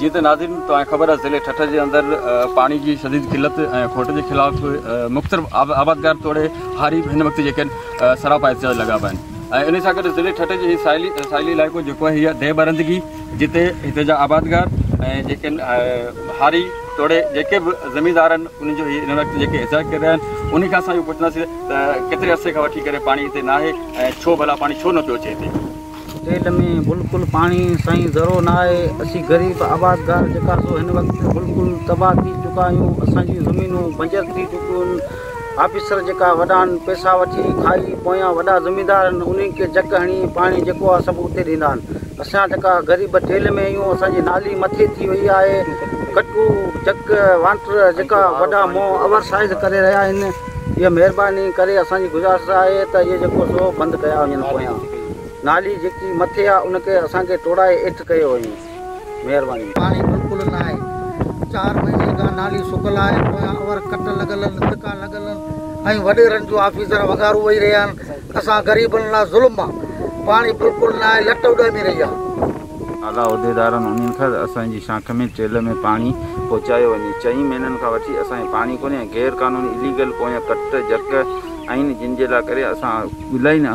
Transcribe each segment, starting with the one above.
جيئن ته ناظرين توهان کي خبر آهي ضلعي ٺٽه جي اندر پاڻي جي شديد قلت ۽ کوٽ جي خلاف مختلف آبادگار توڙي هاري به هن وقت جيڪي سراپا احتجاج لڳا پيا آهن ۽ ان سان گڏ ضلعي ٺٽه جي ساحلي ساحلي علائقو جيڪو آهي هي ديهه برندگي جتي هتي جا آبادگار ۽ جيڪي هاري توڙي جيڪي به زميندار آهن انهن جو هن وقت جيڪي احتجاج ڪري رهيا آهن انهي کان اسان اهو پڇنداسين ته ڪيتري عرصي کان وٺي ڪري پاڻي هتي ناهي ۽ ڇو ڀلا پاڻي ڇو نٿو اچي هتي جيل ۾ بلڪل پاڻي سائين ذرو نه آهي اسين غريب آبادگار جيڪا سو هن وقت بلڪل تباهه ٿي چڪا آهيون اسان جون زمينون بنجر ٿي چڪيون آهن آفيسر جيڪا وڏا آهن پئسا وٺي کائي پويان وڏا زميندار آهن انهن کي جڪ هڻي پاڻي جيڪو آهي سڀ اتي ڏيندا آهن اسان جيڪا غريب جيل ۾ آهيون اسان جي نالي مٿي ٿي وئي آهي ڪٽو جڪ وانٽر جيڪا وڏا منهن اوور سائز ڪري رهيا آهن اها مهرباني ڪري اسان جي گذارش آهي ته اهي جيڪو سو بند ڪيا وڃن پويان نالي جيڪي مٿي آ ان کي اسان کي ٽوڙائي ايٺ ڪيو وڃي مهرباني. پاڻي بلڪل نه آهي چار مهينن کان نالي سڪل آهي پويان اور ڪٽ لڳل ان تکا لڳل ان ۽ وڏيرن جون آفيسر وغارون وئي رهيا ان اسان غريبن لا ظلم آ پاڻي بلڪل نه آهي لٽ اڏامي رهي آ. اعليٰ عهديدارن انهن کي اسان جي شاخ ۾ ٽيل ۾ پاڻي پهچايو وڃي چئين مهينن کان وٺي اسان کي پاڻي ڪونهي ۽ غير قانوني اليگل پويان ڪٽ جڪ آهن جن جي لا ڪري اسان الائي نه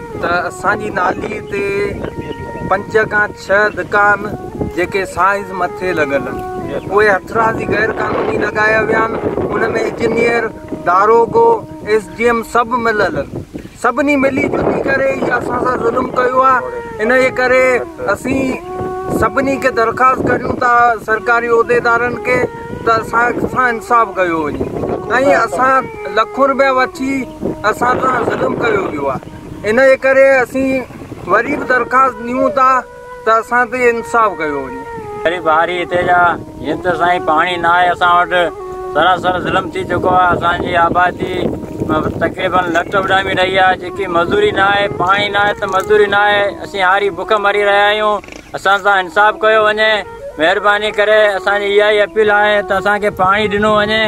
ته اسان جي نالي تي پنج کان ڇهه دڪان جيڪي سائز مٿي لڳل آهن اهي هٿرادي غير قانوني لڳايا ويا آهن ان ۾ انجنيئر داروغو ايس ڊي ايم سڀ ملل آهن سڀني ملي جلي ڪري هي اسان سان ظلم ڪيو آهي ان جي ڪري اسين سڀني کي درخواست ڪريون ٿا سرڪاري عهديدارن کي ته اسان سان انصاف ڪيو وڃي ۽ اسان لکون روپيا وٺي اسان سان ظلم ڪيو ويو آهي ان جي ڪري اسين وري به درخواست ڏيون ٿا ته اسان تي انصاف ڪيو وڃي غريب هاري هتي جا جن ته سائين پاڻي نه آهي اسان وٽ سراسر ظلم ٿي چڪو آهي اسان جي آبادي تقريبن لٽ اڏامي رهي آهي جيڪي مزوري نه آهي پاڻي نه آهي ته مزوري نه آهي اسين هاري بک مري رهيا آهيون اسان سان انصاف ڪيو وڃي مهرباني ڪري اسان جي اها ئي اپيل آهي ته اسان کي پاڻي ڏنو وڃي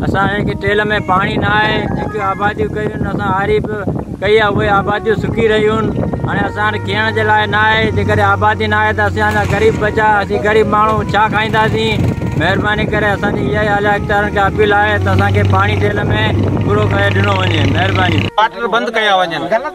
اسان کي ٽيل ۾ پاڻي نه آهي جيڪي آباديون ڪيون اسان آري به ڪئي آهي اهي آباديون سڪي رهيون هاڻي اسان وٽ کيئڻ جي لاء نه آهي جيڪڏهن آبادي نه آهي ته اسان جا غريب بچا اسين غريب ماڻهو ڇا کائينداسين مهرباني ڪري اسان جي اها ئي اعليٰ اختيارن کي اپيل آهي ته اسان کي پاڻي ٽيل ۾ پورو ڪري ڏنو وڃي مهرباني واٽر بند ڪيا وڃن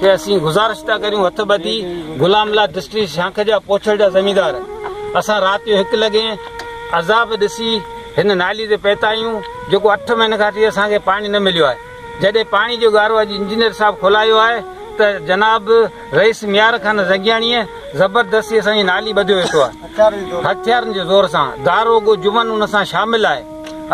کي اسين گذارش ٿا ڪريون هٿ ٻڌي غلام الله دشتي شاخ جا پوڇل جا زميندار اسان رات جو هڪ لڳي عذاب ڏسي هن نالي تي پيتا آهيون جيڪو اٺ مهينن کان ٿي اسان کي پاڻي نه مليو آهي جڏهن پاڻي جو گارو اڄ انجنيئر صاحب کولايو آهي ته جناب رئيس ميار خان زنگياڻيء زبردستي اسان جي نالي ٻڌيو ويٺو آهي هٿيارن جي زور سان گارو گو جمن ان سان شامل آهي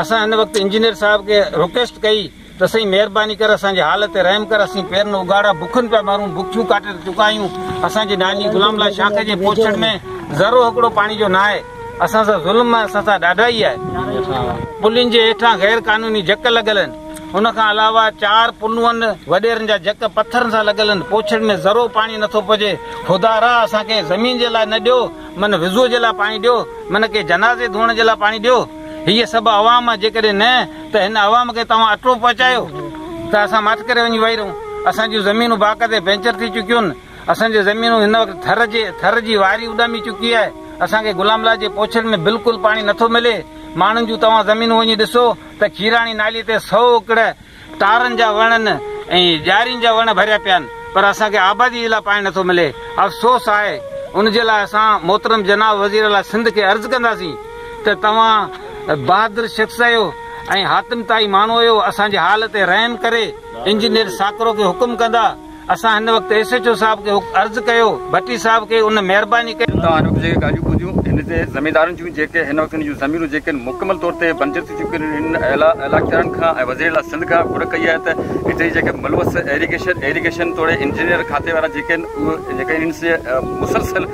اسان هن وقت انجنيئر صاحب کي رڪويسٽ ڪئي ته سائين مهرباني ڪر اسان جي حال تي رحم ڪر اسين پيرن اگهاڙا بکن پيا مرون بکيون ڪاٽي ته چڪا آهيون اسان جي ناني غلام الله شاخ جي پوڇڙ ۾ ذرو هڪڙو پاڻي جو ناهي اسان سان ظلم آهي اسان سان ڏاڍائي آهي پلين جي هيٺان غير قانوني جڪ لڳل آهن ان کان علاوه چار پنوئن وڏيرن جا جڪ پٿرن سان لڳل آهن پوڇڙ ۾ ذرو پاڻي نٿو پهجي خدا را اسان کي زمين جي لاء نه ڏيو من وضوء جي لاء پاڻي ڏيو من ڪي جنازي ڌوئڻ جي لاء پاڻي ڏيو هيء سڀ عوام آهي جيڪڏهن نه ته هن عوام کي توهان اٽو پهچايو ته اسان ماٺ ڪري وڃي وهي رهون، اسان جون زمينون باقاعدي بينچر ٿي چڪيون، اسان جون زمينون هن وقت ٿر جي ٿر جي واري اڏامي چڪي آهي، اسان کي غلام الله جي پوڇڙ ۾ بلڪل پاڻي نٿو ملي، ماڻهن جون توهان زمينون وڃي ڏسو ته کيراڻي نالي تي سؤ اڪڙ ٽارن جا وڻن ۽ ڄارين جا وڻ ڀريا پيا آهن پر اسان کي آبادي جي لاء پاڻي نٿو ملي، افسوس آهي، ان جي لاء اسان محترم جناب وزيراعليٰ سنڌ کي عرض ڪنداسين. ته توهان بهادر شخص اهيو ۽ حاتم طائي ماڻهو اهيو اسان جي حال تي رحم ڪري انجنيئر ساڪرو کي حڪم ڪندا اسان هن وقت ايس ايڇ او صاحب کي عرض ڪيو ڀٽي صاحب کي ان مهرباني ڪري توهان هن وقت جيڪي ڳالهيون ٻڌيون هن تي زميندارن جون جيڪي هن وقت هن جون زمينون جيڪي آهن مڪمل طور تي بنجر ٿي چڪيون آهن هن اعليٰ اعليٰاختيارن کان ۽ وزير اعليٰ سنڌ کان گهر ڪئي آهي ته هتي جي جيڪي ملوث ايريگيشن ايريگيشن توڙي انجنيئر کاتي وارا جيڪي آهن اهي جيڪي آهن سي مسلسل